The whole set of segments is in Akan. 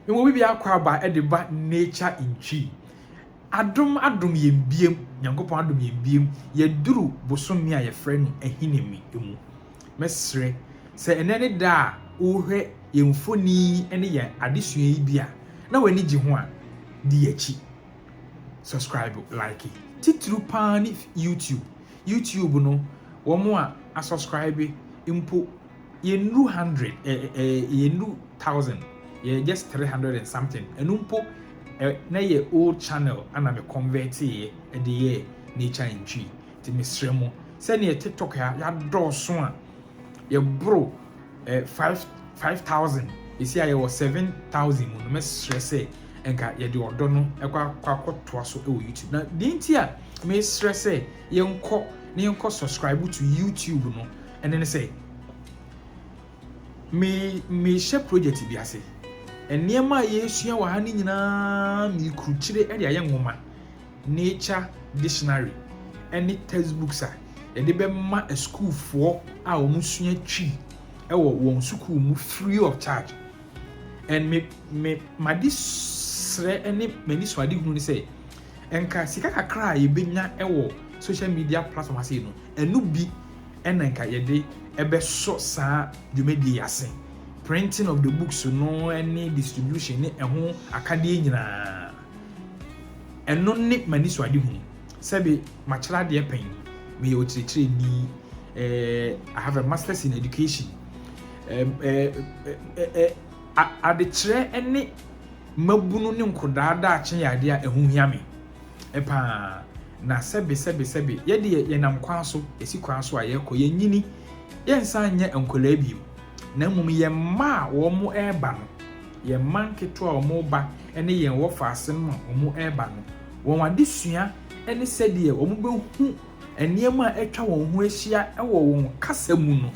Ewɔ bi bia akɔ aba de ba nature in Twi. Adom adom yɛn biom, Nyankopɔn adom yɛn biom, yɛduru bosome a yɛfrɛ no Ahinime mu. Mɛsrɛ sɛ ɛnɛ ne da a worehwɛ yɛn mfoni ne yɛn adesua yi bi a na w'ani gye ho a, di akyi. Subscribe, like. Titiriw paa ne YouTube. YouTube no, wɔn a asubscribe mpo Yɛnnuru hundred, ɛ ɛ yɛnnuru thousand, yɛyɛ just three hundred and something, ɛno mpo ɛ na ɛyɛ old channel na me convert-eeɛ de yɛɛ nature and tree. Nti mesrɛ mo, sɛdeɛ tiktok ha yɛadɔɔso a, yɛboro ɛ five five thousand, seesei a yɛwɔ seven thousand mu no, mɛsrɛ sɛ nka yɛde ɔdɔ no kɔ a kɔ akɔtoa so wɔ YouTube. Na deɛ nti a mesrɛ sɛ yɛnkɔ na yɛnkɔ subscribe to YouTube no, Ɛno ne sɛ, me mehyɛ project bi ase. Nneɛma a yɛresua wɔ ha no nyinaa mekrukyire de ayɛ nwoma, nature dictionary ne textbooks a yɛde bɛma asukuufoɔ a wɔsua Twi wɔ wɔn sukuu mu free of charge. And me me made srɛ ne m'ani so ade hunu ne sɛ nka sika kakra a yɛbɛnya wɔ social media platform ase no ɛno bi na nka yɛde bɛsɔ saa dwumadie yi ase, printing of the books no ne distribution ne ɛho akadeɛ nyinaa. Ɛno ne m'anisoadehunu. Sɛbe makyerɛ adeɛ pɛn, meyɛ ɔkyerɛkyerɛni, eh, I have a masters in education. Eh, eh, eh, eh, a- adekyerɛ ne mmabunu ne nkɔdaa daakye yɛ adeɛ a ɛho hia me. paa, na sɛbe, sɛbe, sɛbe, yɛ deɛ yɛnam kwan so, yɛsi kwan so a yɛkɔ, yɛnyini, yɛnsan nyɛ nkwadaa bio, na mmom yɛn mma a wɔreba no, yɛn mma nketewa a wɔreba ne yɛn wɔ faase no a wɔreba no, wɔn adesua ne sɛdeɛ wɔbɛhu nneɛma a atwa wɔn ho ahyia wɔ wɔn kasa mu no,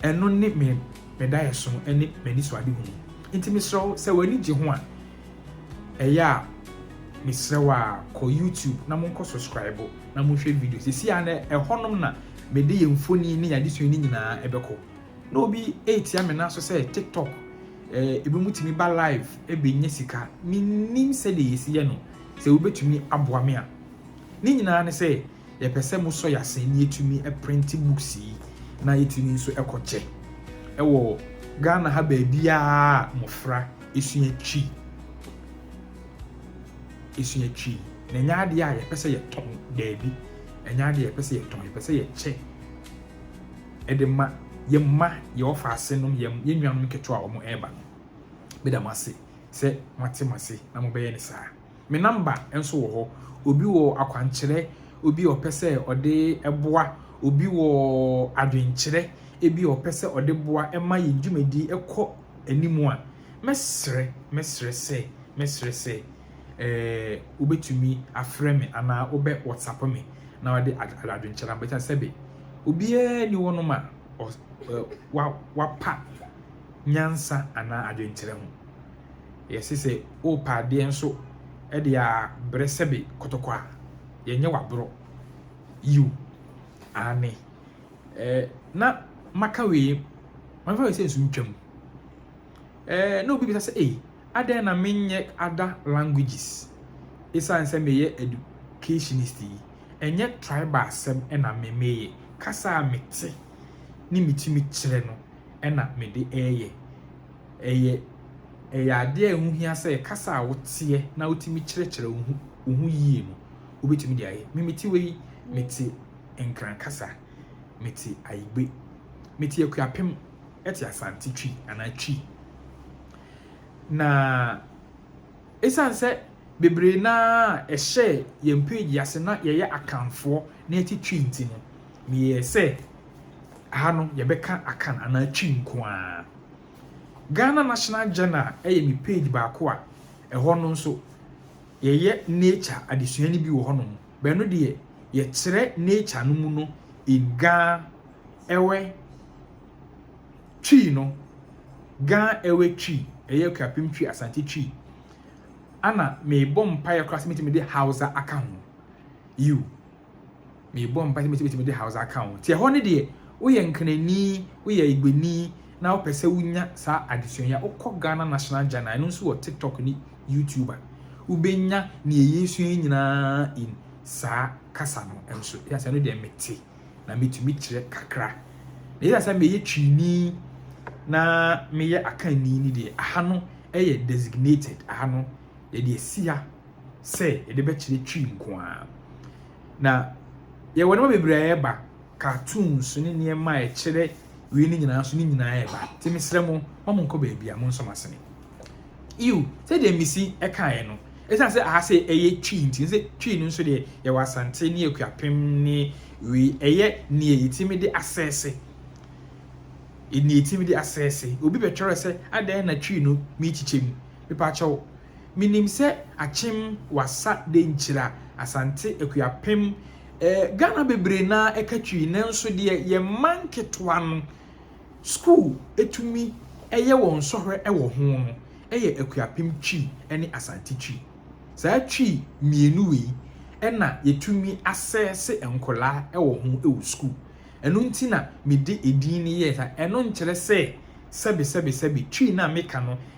ɛno ne me daeɛso ne m'anisoadehunu. Enti mesrɛ wo, sɛ w'ani gye ho a, Ɛyɛ a mesrɛ wo a kɔ YouTube na monkɔ subscribe na monhwɛ video. Sisi a na ɛhɔnom na mede yɛn mfoni ne yɛn adesua no nyinaa ɛbɛkɔ. Na obi ɛretia me nan so sɛ TikTok eh, ebi mu tumi ba live ɛbɛnya sika. Mennim sɛdeɛ yɛsi yɛ no, sɛ wobɛtumi aboa me a. Ne nyinaa ne sɛ. Yɛpɛ sɛ mo sɔ yɛ sɛ neɛ tumi printe books yi na yɛ tumi nso kɔ kyɛ wɔ Ghana ha baabiaa a mmɔfra sua twi sua twi na ɛnyɛ adeɛ a yɛpɛ sɛ yɛ tɔn daabi ɛnyɛ adeɛ yɛpɛ sɛ yɛ tɔn yɛpɛ sɛ yɛ kyɛ ɛde ma yɛ mma yɛ ɔfa ase nom yɛ yɛ nnuanom ketewa a wɔn ɛreba no beda mo ase sɛ mo ate mo ase na mo bɛyɛ ne saa. Me number nso wɔ hɔ. Obi wɔ akwankyerɛ obi a ɔpɛ sɛ ɔde boa, obi wɔ adwenkyerɛ ebi a ɔpɛ sɛ ɔde boa ma yɛn dwumadi kɔ anim a, mɛsrɛ, mɛsrɛ sɛ, mɛsrɛ sɛ eh, wobɛtumi afrɛ me anaa wobɛ WhatsApp me na wode ad, adwenkyerɛ ama. Ɛsiane sɛbe, obiara nni hɔnom a ɔs, eh, wa, wapa nyansa anaa adwenkyerɛ ho. Yɛse sɛ worepɛ adeɛ nso de abrɛ sɛbe kɔtɔkɔ a, yɛnyɛ w'aborɔ. Yiw, aane. Eh, na maka wei, mɛfa wei sɛ nsu ntwam. Eh, na obi bisa sɛ, ei, adɛn na menyɛ ada languages? Esiane sɛ meyɛ educationist yi, ɛnyɛ tribal asɛm na me meyɛ. Kasa a mete ne metumi kyerɛ no na mede reyɛ. Ɛyɛ ɛyɛ adeɛ a ɛho hia sɛ kasa a woteɛ na wotumi kyerɛkyerɛ wo ho wo ho yie no, wobɛtumi de ayɛ. Me mete wei, mete Nkran kasa, mete Ayigbe, mete Akuapem, ɛte Asante Twi anaa Twi. Na ɛsiane sɛ bebree no ara a ɛhyɛɛ yɛn page yi ase na yɛyɛ Akanfoɔ na yɛte Twi nti no, meyɛɛ sɛ ha no yɛbɛka Akan anaa Twi nko ara. Ghana National Journal yɛ me page baako a ɛhɔ no nso yɛyɛ nature adesua no bi wɔ hɔnom. Bɛno deɛ yɛkyerɛ nature no mu no in Ga ɛwɛ Twi no, Ga ɛwɛ Twi, ɛyɛ Akuapem Twi, Asante Twi. Ana mebɔ mpaeɛ koraa sɛ mɛtumi de Hausa aka ho. You. Merebɔ mpae sɛ mesi betumi de Hausa aka ho. Tiɛ hɔ no deɛ, woyɛ Nkranni, woyɛ Igbeni na wopɛ sɛ wunya saa adesua yi a, wokɔ Ghana National Journal, ɛno nso wɔ TikTok ne YouTube a, wubenya nea yɛresua yi nyinaa in saa kasa no nso. Esiane sɛ ɛno deɛ mete na metumi kyerɛ kakra, na esiane sɛ meyɛ Twini na meyɛ Akanni no deɛ, aha no yɛ designated, aha no yɛde asi ha. sɛ yɛde bɛkyerɛ Twi nko ara. Na yɛwɔ nneɛma bebree a ɛreba, cartoons ne nneɛma a ɛkyerɛ wei no nyinaa nso ne nyinaa ɛreba. Nti mesrɛ mo, ma mo nkɔ baabi a mo nsɔ mo asene. Yiw, sɛdeɛ Misi ɛkaeɛ no, ɛsiane sɛ aha sɛ ɛyɛ Twi nti, sɛ Twi no nso deɛ yɛwɔ Asante ne Akuapem ne wei, ɛyɛ nea yɛtumi de asɛɛse. Nea yɛtumi de asɛɛse. Obi bɛtwerɛ sɛ, adɛn na Twi no merekyekyɛ mu? Mepaakyɛw, Minim sɛ akyem wasa de nkyira Asante Akuapem eh Ghana bebree no ara ɛka twii nanso deɛ yɛn mma nketewa no school tumi yɛ wɔn sɔhwɛ wɔ ho no yɛ Akuapem Twi ne Asante Twi. Saa Twi mmienu wei na yɛtumi asɛɛse nkwadaa wɔ ho wɔ school. Ɛno nti na mede edin no yɛɛ saa. Ɛno nkyerɛ sɛ sɛbe sɛbe sɛbe Twi no a meka no